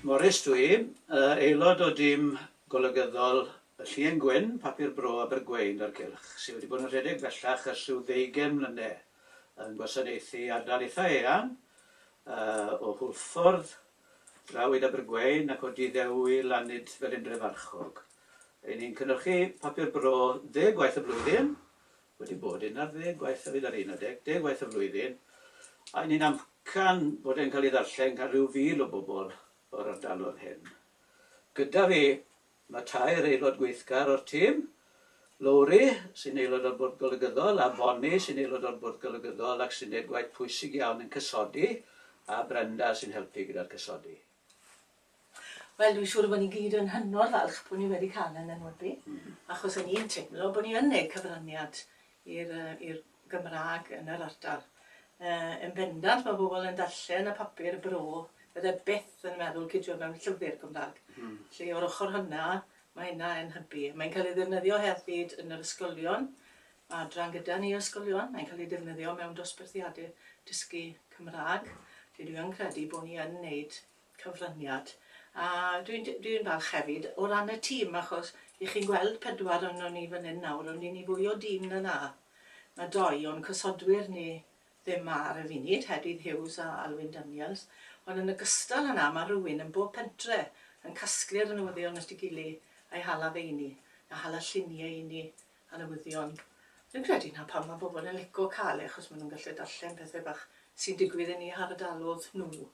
Morris dw i, aelod o dîm golygyddol y Llun Gwyn, Papur Bro Abergwein a'r Cylch, sydd wedi bod yn rhedeg bellach ers rhyw ddeugain mlynedd, yn gwasanaethu ardal eitha eang, o Hwlffordd, Drawyd Abergwein ac o Diddew i Lanyd Felindrefarchog. Ry'n ni'n cynhyrchu Papur Bro ddeg gwaith y flwyddyn, wedi bod un ar ddeg gwaith hefyd ar un adeg, deg gwaith y flwyddyn, a ni'n amcan bod e'n cael ei ddarllen gan ryw fil o bobl o'r ardalodd hyn. Gyda fi, mae tair aelod gweithgar o'r tîm, Lowri, sy'n aelod o'r Bwrdd Golygyddol, a Bonnie, sy'n aelod o'r Bwrdd Golygyddol ac sy'n gwneud gwaith pwysig iawn yn cysodi, a Brenda, sy'n helpu gyda'r cysodi. Wel dwi'n siŵr y bod ni gyd yn hynod falch bod ni wedi cael e'n enwebu, achos o'n i'n teimlo bod ni yn neud cyfraniad i'r yy i'r Gymrâg yn yr ardal. Yy yn bendant ma' pobl yn darllen y papur bro fydde byth yn meddwl cidio mewn llyfr Cymrâg. Hmm. Felly o'r ochr hwnna ma' hynna yn hybu. Mae'n cael ei ddefnyddio hefyd yn yr ysgolion Mae adran gyda ni o ysgolion, mae'n cael ei ddefnyddio mewn dosbarthiadau dysgu Cymraeg, lle dwi yn credu bod ni yn wneud cyfraniad. A dwi'n dwi'n falch hefyd o ran y tîm, achos y'ch chi'n gweld pedwar ohonon ni fan hyn nawr, ond 'yn ni fwy o dîm na 'na. Mae dou o'n cysodwyr ni ddim 'ma ar y funud, Hedydd Hughes a Alwyn Daniels, ond yn ogystal â 'na, mae rhywun yn bob pentre yn casglu'r newyddion at ei gily, a'i hala fe i ni, a hala lluniau i ni, a newyddion. Dwi'n credu 'na pam mae pobl yn lico cael e achos maen nhw'n gallu darllen pethau bach sy'n digwydd yn eu hardalodd nhw.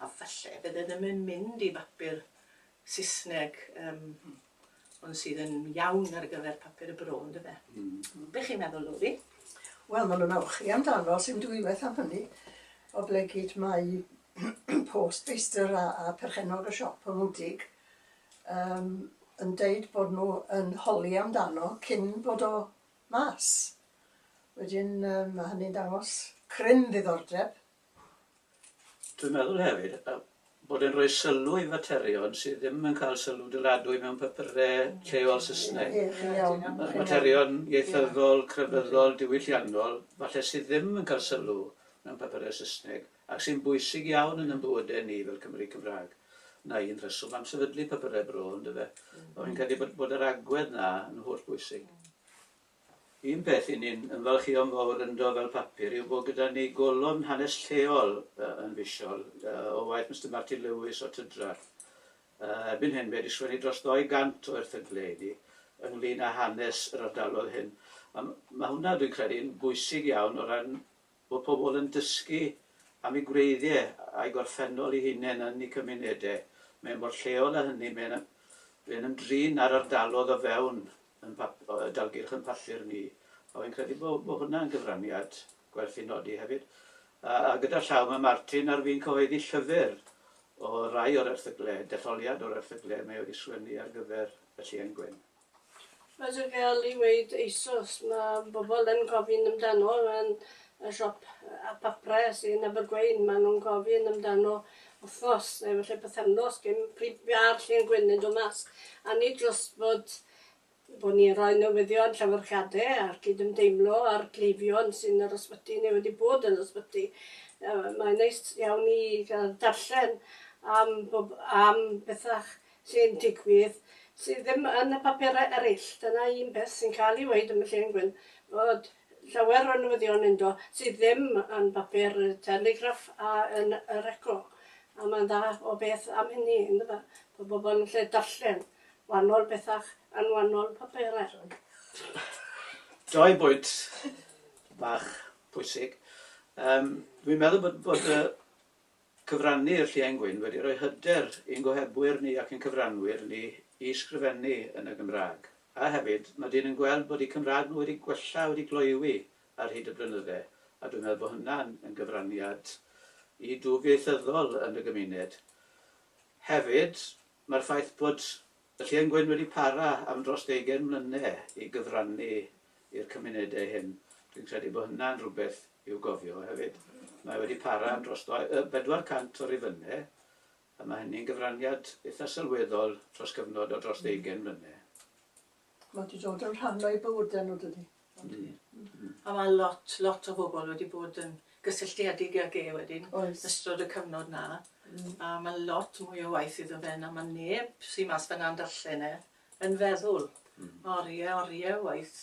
A falle bydd e ddim yn mynd i bapur Saesneg um, ond sydd yn iawn ar gyfer papur y bro, ynddo fe? Mm. Be chi'n meddwl, Lori? Wel, maen nhw'n awchu amdano, sy'n dwywaith am hynny. Oblegid mae post feistr a, a perchennog y siop yn wdig yym yn deud bod nhw yn holi amdano cyn bod o mas. Wedyn yym ma' hynny'n dangos cryn ddiddordeb. Dwi'n meddwl hefyd yy bod e'n rhoi sylw i faterion sydd ddim yn cael sylw dyladwy mewn papure lleol Saesneg. Ie, chi'n iawn. Ma- materion ieithyddol, crefyddol, diwylliannol, falle sydd ddim yn cael sylw mewn papure Saesneg. ac sy'n bwysig iawn yn ein bywydau ni fel Cymry Cymraeg. 'Na un rheswm am sefydlu Papurau Bro, yn dyfe? Ond fi'n credu bod, bod yr agwedd 'na yn holl bwysig. Un peth i ni'n ymfalchïo'n fawr ynddo fel papur yw bod gyda ni golofn hanes lleol uh, yn fisiol uh, o waith Mr Martin Lewis o Tydrar. Uh, erbyn hyn, mae wedi sgwennu dros 200 o erthyglau i ni ynglyn â hanes yr ardalodd hyn. A mae hwnna, dwi'n credu, yn bwysig iawn o ran Bod pobl yn dysgu am eu gwreiddiau a'u gorffennol eu hunain yn eu cymunedau mae mor lleol â hynny, mae'n ymdrin â'r ardalodd o fewn y dalgylch yn papur ni, a wy'n credu bod hwnna yn gyfraniad gwerth ei nodi hefyd. A gyda llaw mae Martin ar fin cyhoeddi llyfr o rai o'r erthyglau, detholiad o'r erthyglau mae wedi sgwennu ar gyfer y Llien Gwyn. Fel ti'n gallu weud eisoes, mae bobl yn gofyn amdano yn y siop y papurau sy'n Abergweun, maen nhw'n gofyn amdano wythnos neu falle pythefnos cyn pryd ma'r llun gwyn yn dod mas. A nid jyst bod bod ni'n rhoi newyddion llyfyrgade a'r cydymdeimlo a'r cleifion sy'n yr ysbyty neu wedi bod yn ysbyty. Yy mae'n neis iawn i ga'l darllen am bob- am bethau sy'n digwydd, sydd ddim yn y papurau eraill. Dyna un peth sy'n cael ei weud am y Lle yn Gwyn, fod llawer o newyddion ynddo sydd ddim yn bapur y Telegraph a yn yr Echo. A mae'n dda o beth am hynny, yndyfe? Bod pobl yn gallu darllen wahanol bethau yn wahanol papurau. Dau bwynt bach pwysig. Yym, dwi'n meddwl bod bod y Cyfrannu i'r Lliain Gwyn wedi rhoi hyder i'n gohebwyr ni ac i'n cyfranwyr ni i ysgrifennu yn y Gymraeg. A hefyd, mae dyn yn gweld bod eu Cymraeg nhw wedi gwella, wedi gloywi ar hyd y blynydde, a dwi'n meddwl bod hynna'n yn gyfraniad i dwf ieithyddol yn y gymuned. Hefyd, Mae'r ffaith bod y Lle yn Gwyn wedi para am dros deugain mlyne i gyfrannu i'r cymunedau hyn, dwi'n credu bod hynna'n rhywbeth i'w gofio hefyd. Mae wedi para am dros 400 o rifynnau, a mae hynny'n gyfraniad eitha' sylweddol dros gyfnod o dros ddeugain mlyne. Mae wedi dod yn rhan o'i bywydau nhw dydy. A mae lot, lot o bobl wedi bod yn gysylltiedig ag e wedyn, ystod y cyfnod na. A mae lot mwy o waith iddo fe na mae neb sy'n mas fyna'n darllen e yn feddwl. Oriau, oriau o waith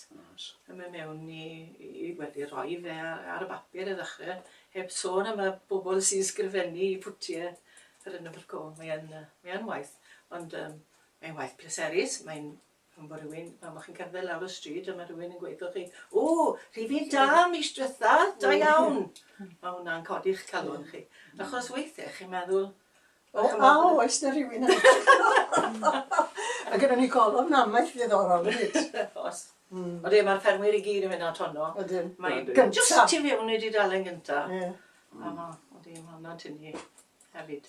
yn mynd mewn i, i, wel, i roi fe ar y bapur i ddechrau, heb sôn am y bobl sy'n sgrifennu i pwtiau yr yn y Mae e'n, mae e'n waith. Ond um, Mae'n waith pleserus, mae'n pan fo rhywun, pan fo chi'n cerdded lawr y stryd a mae rhywun yn gweud wrthoch chi, o, rhif un da mis diwetha, da iawn! Mae hwnna'n codi'ch calon chi. Achos weithiau chi'n meddwl, O, a oes na rhywun yn edrych ar ôl? Mae gynnon ni golofn namaeth ddiddorol hefyd. Oes. Odi, mae'r ffermwyr i gyd yn mynd at honno. Ydyn. Mae'n gynta. Jyst tu fewn i dudalen gynta. Ie. A ma', odi, ma' hwnna'n tynnu hefyd.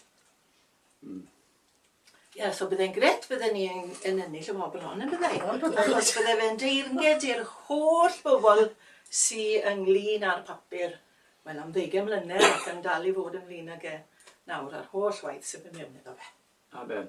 Mm. Ie, so byddai'n gret bydden ni yn, yn ennill y wobr hon, yn byddai? Yn byddai. Achos byddai fe'n deyrnged i'r holl bobl sy'n ynglyn â'r papur, wel, am ddeugain mlynedd ac yn dal i fod ynglyn ag e nawr, a'r holl waith sydd yn mynd iddo fe. Amen.